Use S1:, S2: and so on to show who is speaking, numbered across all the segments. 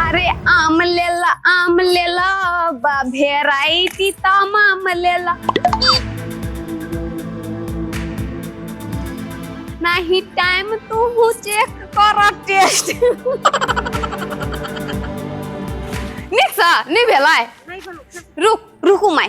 S1: अरे आम लेला आम लेला बा भेरायटी तमाम लेला नाही टाइम तू चेक कर टेस्ट निसा नि भेलाय रुक रुकू माय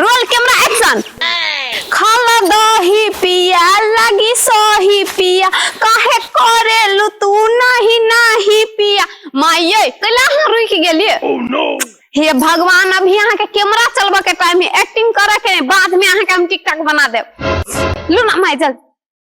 S1: रोल कैमरा एक्शन खाला दही पिया लगी सही पिया काहे करेलु तू नहीं नहीं पिया माये कैला अहाँ रुक गेलिए हे भगवान अभी अहाँ के कैमरा चलबे के टाइम है एक्टिंग करे के बाद में अहाँ के हम टिकटॉक बना देब लू ना माय जल्दी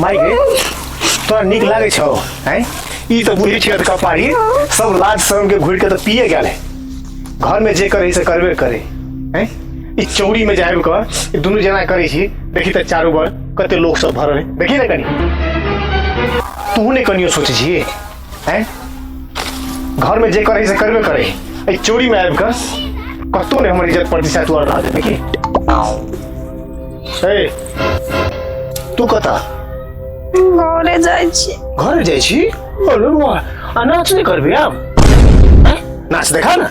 S1: माई गे तोरा नीक लागै छौ हैं ई तऽ बुझै छियै तऽ कपारी सब लाज शर्म के घुरि के तऽ पिए गेल है घर में जे करे से करबे करे हैं ई चौरी में जायब कर ई दुनू जना करै छी देखी तऽ चारू बड़ कते लोग सब भरल है देखी ने कनी तू ने कनियो सोचै छी हैं घर में जे करे से करबे करे ए चोरी में आबि कस कतो ने हमर इज्जत प्रतिशत तू अड़ा देबे की ए तू कता घरे जाइ छी घर जाइ छी अरे वाह आ नाच नहीं करबे आब हैं? नाच देखा ना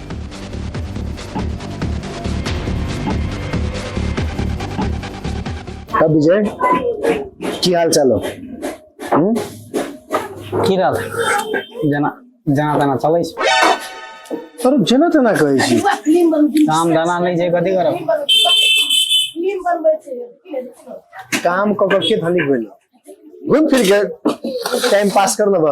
S1: अब विजय की हाल चाल हो हम्म? की रहल जेना जेना तेना चलै छै अरे जेना तेना कहै छी काम धंधा नहि छै कथी करब काम कऽ कऽ के धनिक भेल घूम फिर के टाइम पास कर लेबह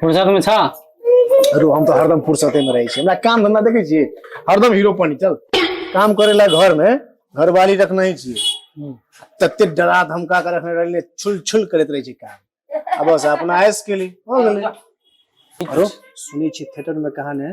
S1: फुर्सत में छा अरे हम तो हरदम फुर्सते में रहे छी हमरा काम धंधा देखे छी हरदम हीरो पनी चल काम करे ला घर में घर वाली रखना ही छी तते डरा धमका कर रखने रहले छुल छुल करत रहे छी काम अब बस अपना आयस के लिए हो गेले अरे सुनी छी थिएटर में कहा ने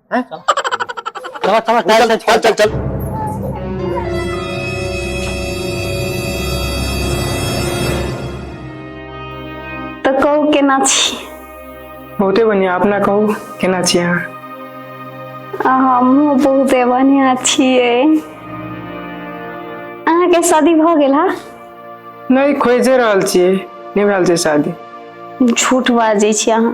S1: हैं? चला चला टाइल चल चल चल चल तो कहू केना छी बहुते बढ़िया अपना कहू केना छी अहाँ आ हमहूँ बहुते बढ़िया छियै अहाँके शादी भऽ गेल हा नहीं खोजे रहल छियै नहीं भेल छै शादी झूठ बाजै छी अहाँ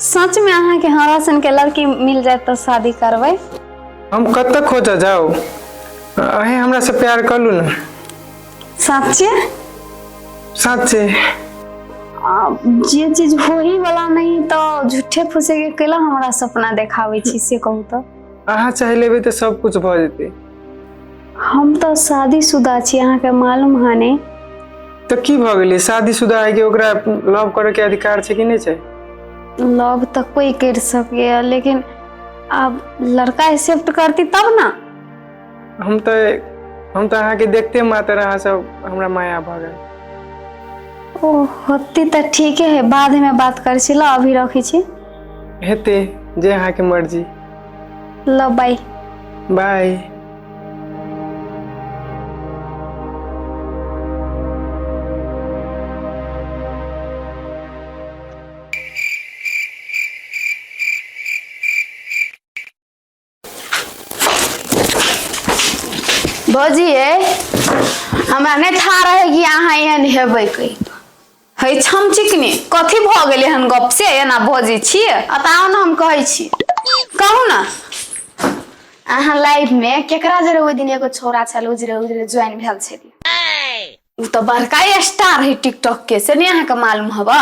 S1: सच में अहाँ के हमरा सन के लड़की मिल जाए तो शादी करबे हम कब तक खोजा जाओ अहे हमरा से प्यार कर लू ना सच्चे साचे आ, जे चीज हो ही वाला नहीं तो झूठे फूसे के केला हमरा सपना देखावे छी से कहू तो अहाँ चाह लेबे तो सब कुछ भऽ जेतै हम तऽ शादीशुदा छी अहाँके मालूम है ने तऽ की भऽ गेलै शादीशुदा है कि ओकरा लव करे के अधिकार छै कि नहि छै लव तऽ कोई कर सकैए लेकिन आब लड़का एक्सेप्ट करती तब ना हम तऽ हम तऽ अहाँके देखते मात्र अहाँ सब हमरा माया भऽ गेल ओ होती तऽ ठीके है बादमे बात करै छी लऽ अभी रखै छी हेतै जे अहाँके मर्जी ल बाई बाई भौजी है हमरा नहीं था रहे कि अहाँ एहन हेबै कहीं है छम चिकनी कथी भऽ गेलै हन गप से एना बजै छी अताउ ने हम कहै छी कहू ने अहाँ लाइफ मे केकरा जरे ओहि दिन एगो छोरा छल उजरे उजरे ज्वाइन भेल छै उ तऽ बड़का स्टार है टिकटॉक के से नहि अहाँके मालूम हवा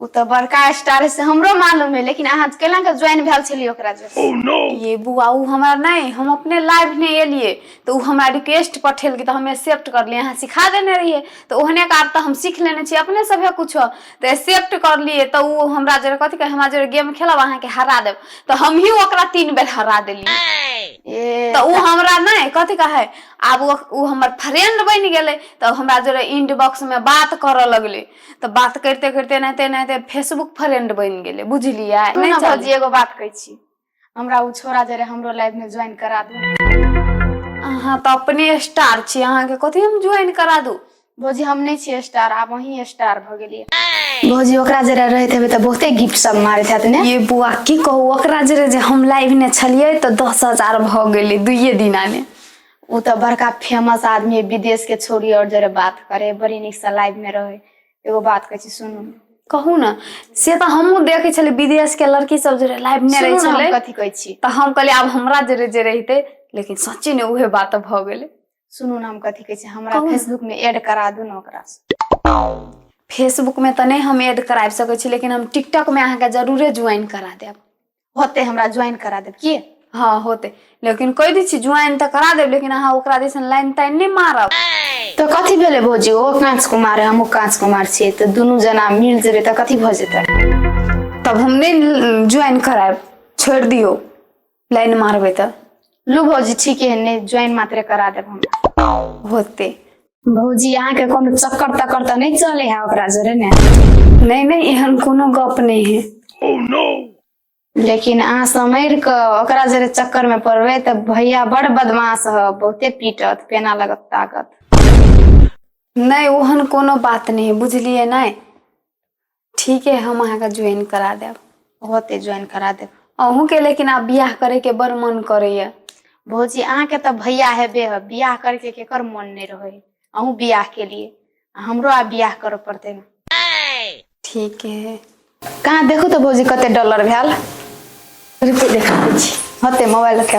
S1: उ तऽ बड़का स्टार है से हमरो मालूम है लेकिन अहाँ केना के ज्वाइन भेल छलियै ओकरा जरे oh, ये बुआ उ हमरा नहीं हम अपने लाइफ ने एलिए तऽ ओ हमरा रिक्वेस्ट पठेलकै तऽ हम एक्सेप्ट करलियै अहाँ सिखा देने रहियै तऽ ओहने के आब तऽ हम सीख लेने छियै अपने सभे कुछो तऽ एक्सेप्ट करलियै तऽ ओ हमरा जरे कथी कहे हमरा जरे गेम खेलब अहाँके हरा देब तऽ हमही ओकरा तीन बेर हरा देलियै ए, तऽ ओ हमरा नहि कथी कहे आब ओ ओ हमर फ्रेंड बनि गेलै तऽ हमरा जरे इंड बॉक्स में बात करऽ लगलै तऽ बात करते करते एनाहिते एनाहिते फेसबुक फ्रेंड बनि गेलै बुझलियै सुनू नहि ने चल भौजी एगो बात कहै छी हमरा ओ छोरा जे रहे हमरो लाइफ में ज्वाइन करा दू अहाँ तऽ अपने स्टार छी अहाँके कथी हम ज्वाइन करा दू भौजी हम नहि छियै स्टार आब अहीं स्टार भऽ गेलियै भौजी ओकरा जरा रहैत हेबै तऽ बहुते गिफ्ट सब मारैत हैत ने ये बुआ की कहू ओकरा जरे जे हम लाइव ने छलियै तऽ दस हजार भऽ गेलै दुइये दिना ने ओ तऽ बड़का फेमस आदमी है विदेश के छोड़ी और जरे बात करे बड़ी नीक से लाइव में रहे एगो बात कहै छी सुनू कहू ने से तऽ हमहूँ देखै छलियै विदेश के लड़की सब जे लाइफ मे रहै सुनू ने, हम छलै कथी कहै छी तऽ हम कहलियै आब हमरा जे रह- जे रहिते लेकिन सच्चे ने उहे बात भऽ गेलै सुनू ने हम कथी कहै छी हमरा कहू ने। फेसबुक में ऐड करा दू ने ओकरा फेसबुक मे तऽ नहि हम ऐड कराबि सकै छी लेकिन हम टिकटॉक मे अहाँके जरूरे ज्वाइन करा देब होते हमरा ज्वाइन करा देब की हाँ होते लेकिन कह दी छी ज्वाइन तऽ करा देब लेकिन अहाँ ओकरा दिसन लाइन ताइन नहि मारब तऽ कथी भेलै भौजी ओ काँच कुमार है हमहूँ काँच कुमार छियै तऽ दुनू जना मिल जेबै तऽ कथी भऽ जेतै तब हम नहि ज्वाइन करायब छोड़ि दियौ लाइन मारबै तऽ लू भौजी ठीक है नहि ज्वाइन मात्रे करा देब हम होते भौजी अहाँके कोनो चक्कर तक्कर तऽ नहि चले है ओकरा जोरे ने नहि नहि एहन कोनो गप नहि है लेकिन अहाँ समैर कऽ ओकरा जोरे चक्कर में पड़बै तऽ भैया बड़ बदमाश ह बहुते पीटत पेना लगत ताकत नहि ओहन कोनो बात नहि है बुझलिए नहि ठीक है हम अहाँके ज्वाइन करा देब बहुते ज्वाइन करा देब अहूँके लेकिन आब बियाह करैके बड़ मन करैए भौजी अहाँके तऽ भैया हेबे है बियाह करके केकर मन नहि रहै है अहूँ बियाह के लिए आ हमरो आब बियाह करऽ पड़तै ने ठीक है कहाँ देखू तऽ भौजी कते डॉलर भेल रुकू देखा दै छी होते मोबाइल रखे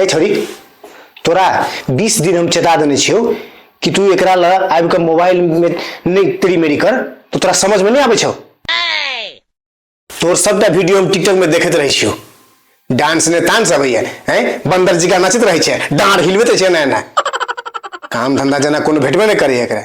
S1: ए छोरी तोरा बीस दिन हम चेता देने छियो कि तू एक ला आबि कऽ मोबाइल में नहीं तेरी मेरी कर तो तोरा समझ में नहीं आबे छौ तोर सबटा वीडियो हम टिकटॉक में देखते रहे छियो डांस ने तांस अबैया हैं बंदर जी का नाचत रहे छे डांड हिलबे छे ना ना काम धंधा जना कोनो भेटबे नहीं करे एकरा